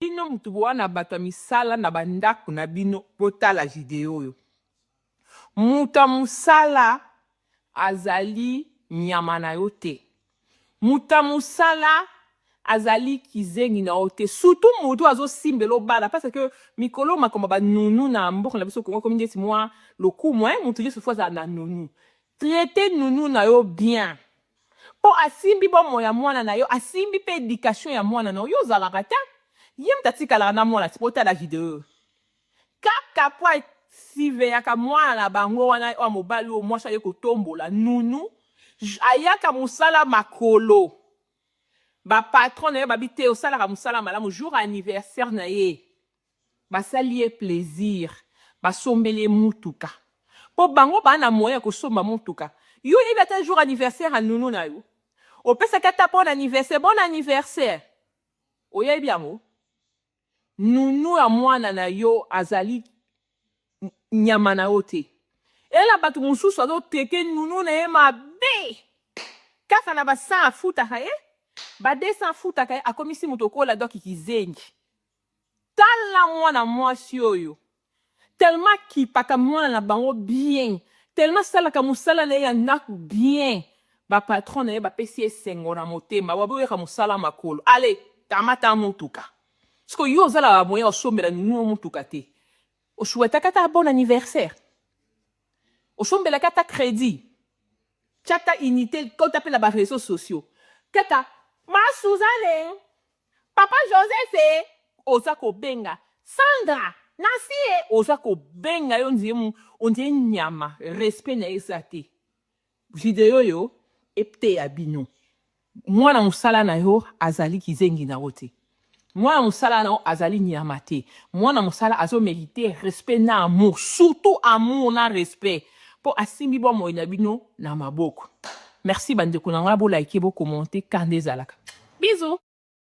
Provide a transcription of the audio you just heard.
Bino mutu boa na bato ya misala na ba ndako na bino botala video oyo. Mutu ya musala azali nyama na yo te. Mutu ya musala azali kizengi na yo te. Surtout mutu oyo azo simbela yo bana parce que mikolo oyo makambo ya ba nounou na mboka na biso Congo ekomi ndeti mua lokumu hein mutu nionso il faut azala na nounou. Traiter nounou na yo bien. Po asimbi bomoi ya mwana na yo, asimbi pe education ya mwana na yo. Yo ozalaka te? Ye mutu atikalaka na mwana te? Botala video oyo. Kaka po a surveillaka mwana na bango wana oyo ya mobali oyo mwasi aye kotombola, Nounou, ayaka musala makolo. Ba patrons na ye babi te, osalaka musala malamu. Jour ya anniversaire na ye, Basali ye plaisir basombeli ye mutuka po bango ba na moyen ya kosomba mutuka yo oyebi ata jour anniversaire ya nounou na yo opesaki ata bon anniversaire bon anniversaire oyebi yango nounou ya muana na yo azali nyama na yo te eye na batu mususu azo traite nounou na ye mabe kaka na ba 100 afutaka ye ba 200 afutaka ye akomisi mutu okola doki kizengi. Tala mwana mwasi oyo tellement akipaka mwana na bango bien tellement asalaka musala na ye ya ndaku bien ba patron na ye bapesi ye esengo na motema ba boyaka musala makolo allez kamata mutuka siko yo oza na ba moyen osombela nounou mutuka te o souhaitaka ata bon anniversaire osombelaka ata credit tia ata unite kota pe na ba reseaux sociaux kaka ma Suzanne Papa Joseph eh oza ko benga Sandra nasi eh oza ko benga ye ondire ondire nyama respect naye eza te video oyo eteya bino mwana musala na yo azali kizengi na yo te mwana musala na yo azali nyama te mwana musala azo merite respect na amour surtout amour na respect po asimbi bomoi na bino na maboko merci bandeko na ngai bolaike bokomonte kanda ezalaka bizu